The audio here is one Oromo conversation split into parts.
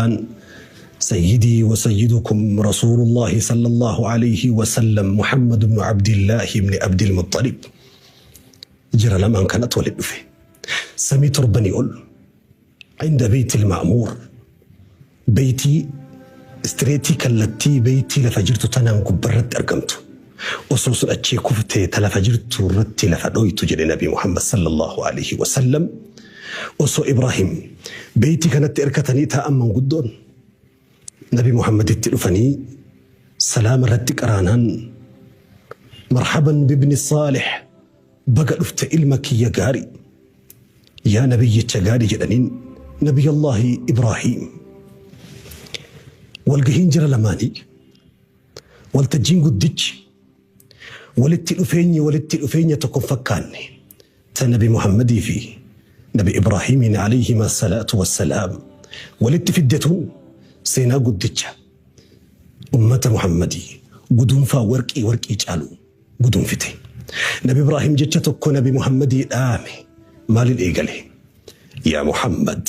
An sayyidii wa sayyidukum rasuulullaahi sallallahu alayhi wa sallam Muhammad ibnu Abdillaahi ibni Abdil Muxxalib. Jira lamaan kanatu walitti dhufe. Samii torbanii ol inda beeytil ma'muur beeytii istireetii kallattii beeytii lafa jirtu tanaan gubbarratti argamtu. Osoo sun achii kuftee ta lafa jirtuu irratti lafa dhoytu jedhe Nabii Muhammad sallallahu aleyhi wa sallam. Osoo Ibraahim beeytii kanatti irkatanii taa'an manguddoon Nabii Muhammaditti dhufanii salaama irratti qaraanaan marhaban bibni saalih baga dhufte ilma kiyya gaari yaa nabiyyicha gaari jedhaniin Nabiyyallaahi Ibraahim. Walgahiin jara lamaanii Waltajjiin guddichi walitti dhufeenyi walitti dhufeenya tokko hin fakkaanne ta Nabi Muhammadii fi Nabi Ibraahiimiin alayhima salaatu wassalaam walitti fidde tun seenaa guddicha ummata Muhammadii guduunfaa warqii warqii caalu guduunfite. Nabi Ibraahim jecha tokko Nabi Muhammadii dhaame maalin eegale? Yaa Muhammad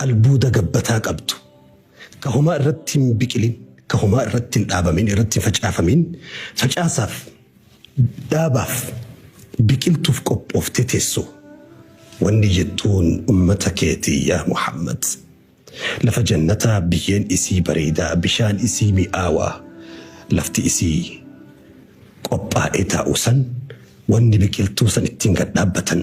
Albuuda gabbataa qabdu, ka homaa irratti hin biqilin, ka homaa irratti hin dhaabamin, irratti hin facaafamiin, facaasaaf, dhaabaaf, biqiltuuf qophooftee teessu, wanni jettuun ummata keeti yaa Muhammad, Lafa jannataa biyyeen isii bareedaa, bishaan isii mi'aawaa, lafti isii qophaa'ee taa'u san, wanni biqiltuu san ittiin gad dhaabbatan,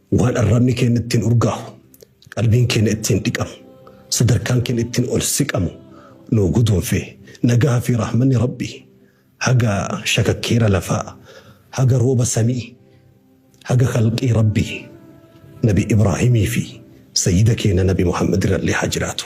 Waan arrabni keenya ittiin urgaahu, qalbiin keenya ittiin dhiqamu, sadarkaan keenya ittiin ol siqamu nuu guduunfee nagaa fi rahmanni Rabbi haga shakakkeera lafaa, haga rooba samii, haga khalqii Rabbi Nabi Ibraahimii fi sayyida keenya Nabi Muhammad irrallee haa jiraatu.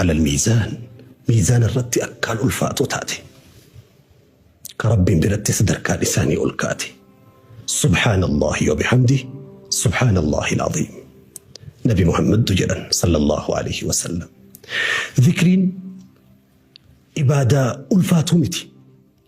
Alal miizaan, miizaana irratti akkaan ulfaatuu taate. Ka Rabbiin biratti sadarkaan isaanii ol kaate. Subhaanallaahi wa bihamdi, Subhaanallaahi al-aziim. Nabi Muhammaddu jedhan sallallahu alayhi wa sallam. Zikriin ibaadaa ulfaatuu miti.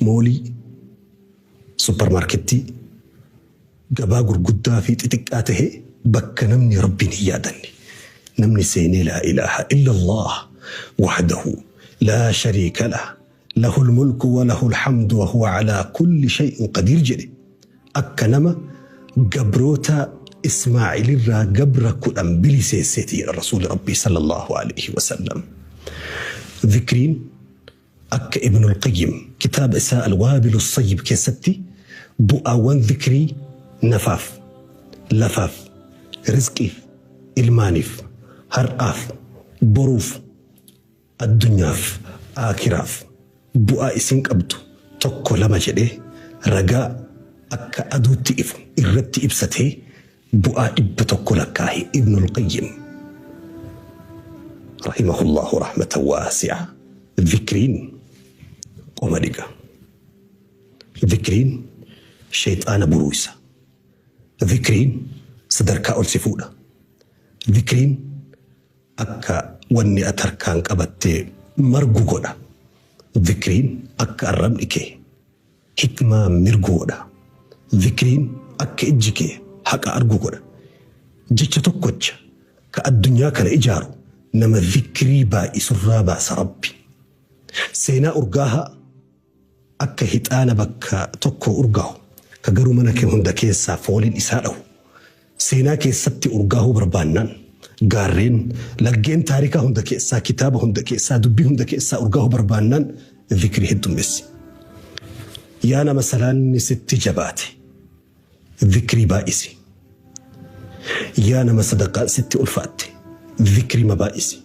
moolii, supparmaarkettii, gabaa gurguddaa fi xixiqqaa tahe bakka namni Rabbiin hin yaadanne. Namni seenee laa ilaaha illallah wahdahu laa shariika lah lahul mulku wa lahul hamdu wa huwa calaa kulli shay'in qadiir jedhe akka nama gabroota Ismaa'ilirraa gabra kudhan biliseesseeti jedha Rasuulli Rabbii sallallahu alaihi wasallam. Zikriin Akka Ibnul Qayyim kitaaba isaa Al-Waabilus Sayyib keessatti bu'aawwan zikrii nafaaf, lafaaf, rizqiif, ilmaaniif, har'aaf, boruuf, addunyaaf, aakhiraaf bu'aa isin qabdu tokko lama jedhee ragaa akka aduutti ifu irratti ibsatee Bu'aa 100 lakkaahe Ibnul Qayyim rahimahullahu rahmatan waasi'a. Zikriin qoma dhiqa. Zikriin sheyxaana buruuysa. Zikriin sadarkaa ol si fuudha. Zikriin akka wanni ati harkaan qabattee margu godha. Zikriin akka arrabni kee Hikmaa mirgoo dha. Zikriin akka ijji kee haqa argu godha. Jecha tokkocha ka addunyaa kana ijaaru nama zikrii baay'isurraa baasa Rabbi. Seenaa urgaahaa akka hixaana bakka tokkoo urgaahu ka garuu mana kee hunda keessaa fooliin isaa dhahu. Seenaa keessatti urgaahuu barbaannaan, gaarreen, laggeen taarikaa hunda keessaa, kitaaba hunda keessaa, dubbii hunda keessaa urgaahuu barbaannaan zikrii heddummessi. Yaa nama salaanni sitti jabaate, zikrii baay'isi. Yaa nama sadaqaan sitti ulfaatte, zikrima baay'isi.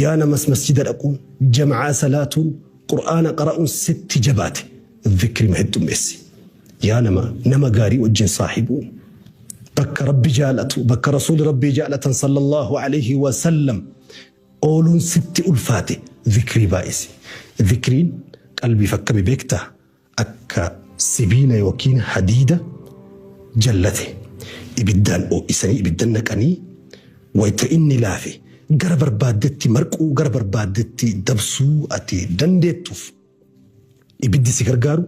Yaa namas masjida dhaquun, jam'aa salaatuun, qur'aana qara'uun sitti jabaate, zikrima heddummessi. Yaa nama nama gaarii wajjin saahibuu. Bakka Rabbi jaalatu, bakka Rasuuli Rabbii jaalatan sallallahu alayhi wa sallam ooluun sitti ulfaate zikrii baay'isi. Zikriin qalbiif akkami beekta? Akka sibiila yookiin hadiida jallate ibiddaan oo'isanii ibiddan naqanii wayta inni laafe gara barbaaddetti marquu gara barbaaddetti dabsuu ati dandeettuuf. Ibiddi si gargaaru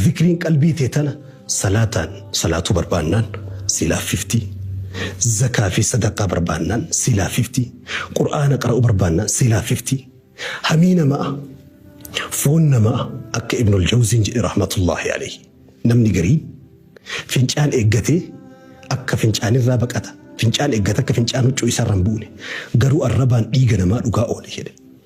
zikriin qalbii tee tana salaataan salaatuu barbaannaan si laaffifti, zakaa fi sadaqaa barbaannaan si laaffifti, qur'aana qara'uu barbaannaan si laaffifti. Hamii nama'a, foon nama'a akka Ibnul Jawziin jedhe rahmatullaahi alayhi. Namni gariin fincaan eeggatee akka fincaanirraa baqata, fincaan eeggata akka fincaan huccuu isaarra hin buune, garuu arrabaan dhiiga namaa dhugaa oole jedhe.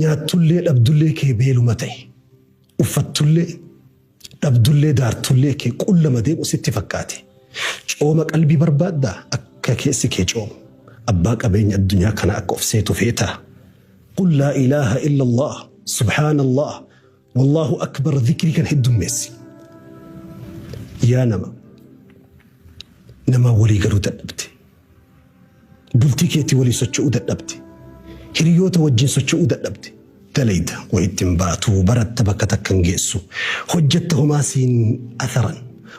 Nyaattullee dhabdullee kee beeluma ta'e. Uffattullee dhabdullee daartullee kee qullama deemu sitti fakkaate. Cooma qalbii barbaaddaa? Akka keessi kee coomu. Abbaa qabeenya addunyaa kana akka of seetu feetaa? Qul laa ilaaha illallah, subhaanallah, wallaahu akbar dhikrii kan heddummeessi. Yaa nama, namaa walii galuu dadhabde. Bultii keetii waliin socho'uu dadhabde. Hiriyoota wajjin socho'uu dadhabde. Dalayda wa ittin baatu, baratta bakka takkan geessu, hojjatta homaa siin atharan,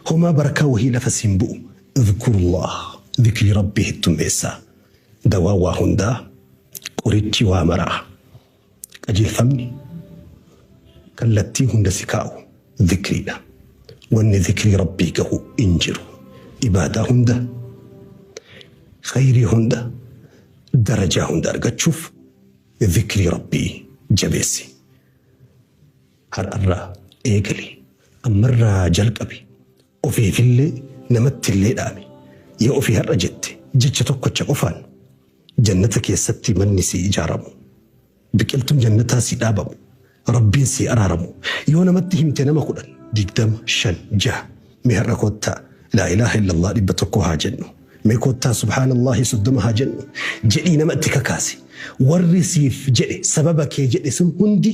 homaa barakaa wahii lafa siin bu'u. Idhkurullah, dhikrii Rabbii heddummeessaa. Dawaan waa hundaa, qorichi waa maraa. Qajeelfamni kallattii hunda si kaa'u zikriidha. Wanni zikrii Rabbii gahu hin jiru. Ibaadaa hunda, khayrii hunda, darajaa hunda argachuuf zikrii Rabbii jabeessi. Har'arraa eegali. Ammarraa jalqabi. Ofiifillee namattillee dhaami. Yoo ofii har'a jette jecha tokkocha qofaan Jannata keessatti manni sii ijaaramu. Biqiltuun Jannataa sii dhaabamu. Rabbiin sii araaramu. Yoo namatti himte nama kudhan, digdama, shan, jaha. Mee har'a koottaa Laa ilaaha illallah dhibba tokko haa jennu. Mee koottaa subhaanallahi soddoma haa jennu. Jedhii nama itti kakaasi. Warri siif jedhe sababa kee jedhe sun hundi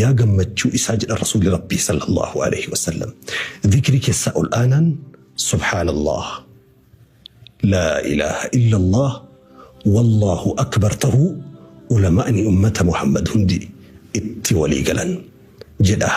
Yaa gammachuu isaa jedhan Rasuulli Rabbii sallallahu aleyhi wa sallam. Zikrii keessaa ol aanaan Subhaanallah, Laa ilaaha illallah, Wallaahu akbar tahuu ulamaa'ni ummata Muhammad hundi itti walii galan jedha.